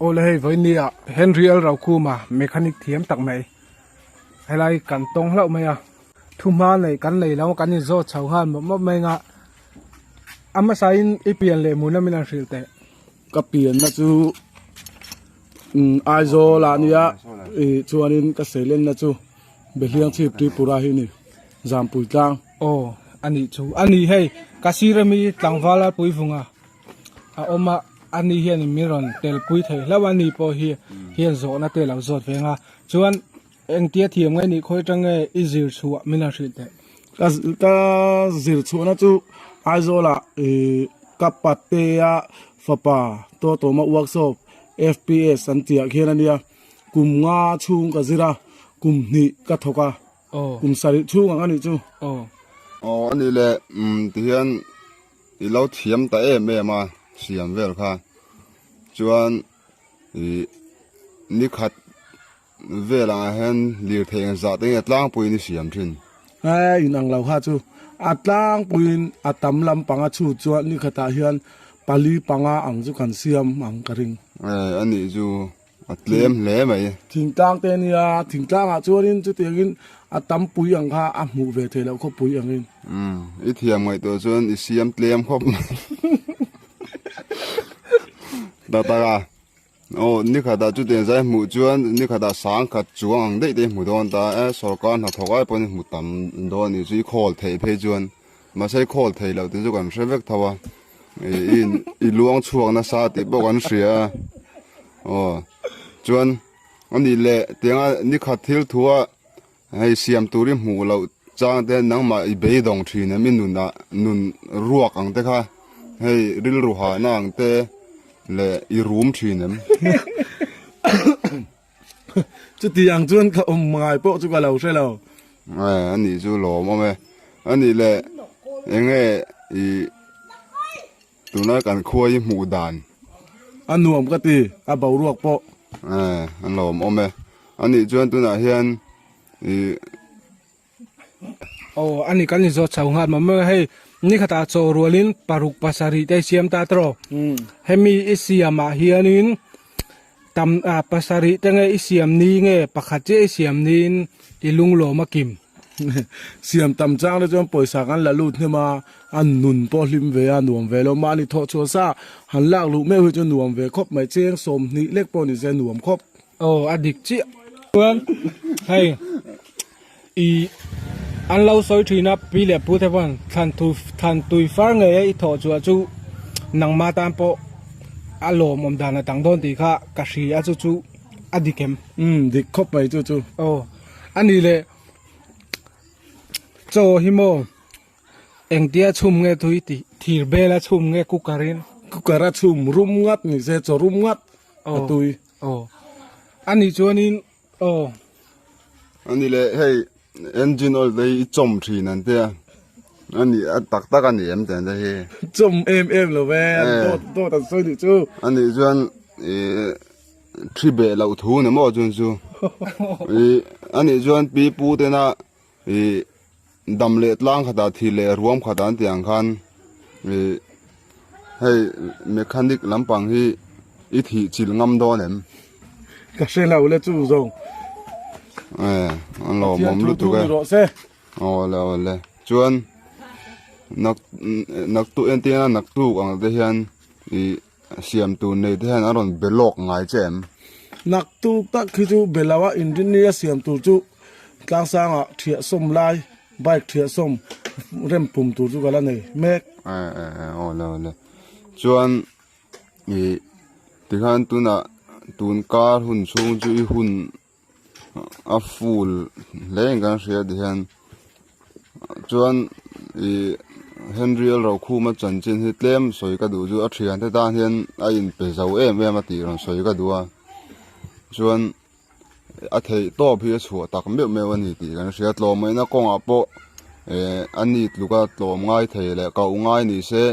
Awle hei vawinia Henry L. Raukhuma mechanic thiam tak mai helai kan tawng hlauh mai a thu hma nei kan nei lo kan in zawt chho nghal mawp mawp mai anga a hmasa in i pian leh hmun lam in an hrilh teh. Ka pianna chu umm Aizawl ah nia ih chuanin ka seilenna chu Behliang chhip Tripura hi ani Zampui tlang. Aw a nih chu a ni hei ka sir ami Tlangval Lalpui vunga a awm a a ni hian min rawn telpui thei hlauh a ni pawh hi hian zawhna te lo zawt veng a chuan Engtia thiam ngai nih khawi tang nge i zir chhuah min a hrih theih? Ka ka zir chhuahna chu Aizawl ah ih ka patte a fapa Tawtawma workshop fps an tih ah khian a nia. Kum nga chhung ka zir a, kum hnih ka thawk a, kum sarih chhung ang a nih chu. Aw a nih le tihian i lo thiam ta em em a siam vel kha chuan ih nikhat. velah ah hian lirthei engzah te nge tlangpuiin i siam thin? He inang lo kha chu a tlangpuiin a tam lampang a chhut chuan ni khatah hian pali panga ang chu kan siam ang ka ring. He a nih chu a tlem hle mai. Thingtlang te nia, thingtlang ah chuanin chutiangin a tam pui ang kha a hmuh ve thei loh khawpui angin. Umm i thiam ngaih tawh chuan i siam tlem khawp mai. Taktak a. Aw nikhat ah chutiang zai hmuh chuan nikhat ah sangkhat chuang ang daih te hmu dawn ta e sorkar hnathawk ai pawhin hmu tam dawn anih chu i khawl theih phei chuan mahse i khawl thei loh tih chu kan hre vek tho a i luang chhuak nasa tih pawh kan hria a aw chuan anih leh tianga nikhat thil thu a Hei siam tur i hmuh loh chang te nangmah i beidawng thin em i nun ah nun ruak ang te kha hei rilru hahna ang te leh i rum thin em chuti ang chuan ka awm ngai pawh chu ka lo hre lo. Aa anih chu lawm awm e anih leh enge i. Tunah kan khuai hi hmuh dan. A nuam ka ti, a boruak pawh. Eh, an lo awm awm e. A nih chuan tunah hian i. Aw, a ni kan izawt chho nghal mamawih a, hei nikhatah chaw rualin paruk pasarih te a siam ta tawh. Hemi i siamah hianin Tam ah pasarih te nge i siam ni nge pakhat chiah i siam ni in i lunglawm a kim. Siam tam chang te chuan pawisa kan la lut hnem a, a nun pawh hlim ve a, nuam ve lo. Mah ni thawh chhuah sa han lak luh meuh hi chu nuam ve khawp mai, cheng sawm hnih lek pawh ni se nuam khawp. Aw a dik chiah. Chuan hei. I an lo sawi thin a, Pi leh Pu te chuan thlan thu thlan tui far ngei a i thawh chu chu nangma tan pawh a lawm awm dan a dang dawn tih kha ka hri a chu chu a dik em? Umm dik khawp mai chu chu. Aw a ni le chaw hi maw engtia a chhum nge tui tih thir bela chhum nge cooker in? Cooker a chhum rum ngat ni se chaw rum ngat a tui. Aw a ni chuan in Aw. A ni le, hei engine oil te hi i chawm thin an tia, a ni a tak tak a ni em tiang te hi. Chawm em em lo ve, dawt dawt an sawi duh chu. A nih chuan i thi beh loh thu ni maw chuan chu, i a nih chuan pi pu tena. Ih, dam leh tlang khatah thih leh ruam khatah an tih ang khan ih, hei mechanic lampang hi i thih chilh ngam dawn em? Ka hre lo le chu zawng. Ih, an lo mawm lutuk e. Pathian thu dun i rawh se. Aw le aw le. Chuan nak, naktuk, engtin a naktuk ang te hian ih. Siam tur nei te hian an rawn be lawk ngai che em? Nak tuk tak khi chu be lo a, engineer a siam tur chu tlangsang ah thiah sawm lai bike thiah sawm rem pum tur chu ka la nei mek. Eh eh eh aw le aw le chuan ih tikhan tunah tun kar hun chhung chu i hun a full hle in kan hria ti hian chuan ih henry alro khuma chanchin hi tlem sawi ka duh chu a thian te tan hian a in pe zo em em a tih rawn sawi ka duh a chuan a theih tawp hi a chhuah tak meuh meuh a ni tih kan hria tlawmna kawngah pawh eh a ni tluk a tlawm ngai thei leh kauh ngai ni se.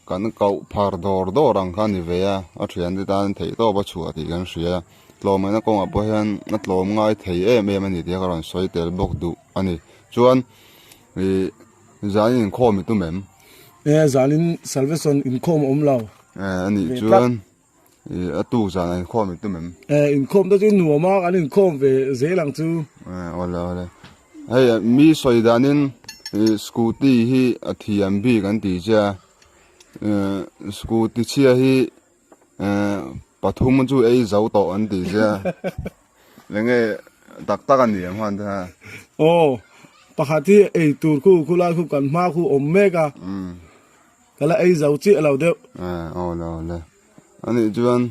Kan koh phar dawr dawr ang kha a ni ve a, a thiante tan theih tawp a chhuah tih kan hria. Tlawmehna kawngah pawh hian a tlawm ngai thei em em a ni tih ka rawn sawi tel bawk duh a ni. Chuan ih zanin inkhawm i tum em? Ee zanin Salvation inkhawm a awm lo. Ee a nih chuan. Eh, a tu zan an khawm tu mem. Eh, in khawm ta chu in nuam a, kan in khawm ve zel ang chu. Eh, ole ole. Hei, mi soi danin eh, scooty hi a thi an bi kan ti che. Eh, scooty chia hi eh, pathum chu ei zo to an ti che. Lenge tak tak an ni ang han ta. Oh, pakhat hi ei tur khu khu lai khu kan hma khu om mek a. Mm. Ka la ei zo chiah lo deuh. Eh, aw le aw le. Anih chuan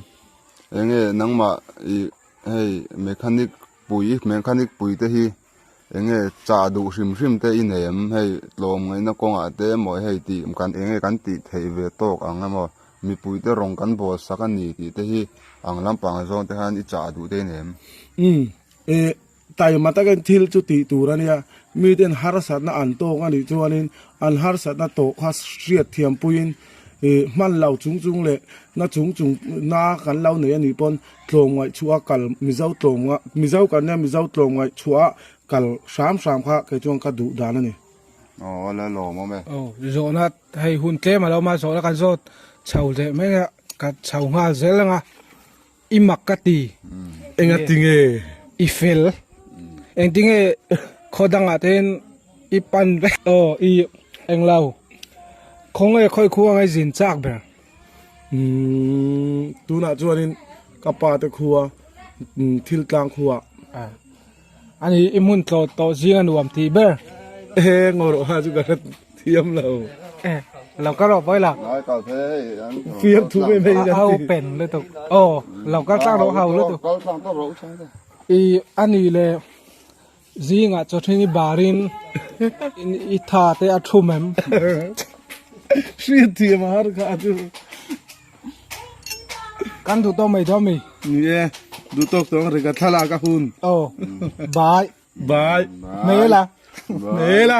eng nge nangmah i hei mechanic pui, mechanic pui te hi eng nge chah duh hrim hrim te i nei em? Hei tlawm ngaihna kawngah te emaw hei tih kan eng nge kan tih theih ve tawk ang emaw? Mipui te rawn kan bawl sak a ni tih te hi ang lampang zawng te hian i chah duh te i nei em? Umm, eh. Taima takin thil chu tih tur a nia, miten harsatna an tawng a nih chuanin an harsatna tawh kha hriat thiam puiin ih hman lo chung chung leh na chung chung na kan lo nei a nih pawn tlawm ngaihchhuah a kal Mizo tlawm ah Mizo kan nia Mizo tlawm ngaihchhuah a kal hram hram kha kei chuan ka duh dan a ni. Aw a la lawm awm e. Aw zawhna hei hun tlem a lo mah zawhna kan zawt chho leh mai a, ka chho nghal zel ang a. I mak ka ti. Enga tinge i fel? Engtinge khaw dangah te hian i pan vek? Aw i eng lo. Khawnge khawi khu angai zin chak ber? Umm tunah chuan in ka pa te khua thil tlang khuah. A nih i hmun tlawt tawh zing a nuam ti ber. He ngaw rawh ha chu ka hre thiam lo. Lo ka rawh pawi la. Fiam thu mai mai a hau pen lutuk. Aw lo kal tlang rawh hau lutuk. Kal tlang tawh rawh chang te. I a nih le zing ah chawhrin i bar in i tha te a thu mem. Hriat thiam a har kha a chu. Kan duh tawk mai duhmi? Ni e, duh tawk tawng rega thlalak a hun. Aw, bai. Bai. Mela. Mela.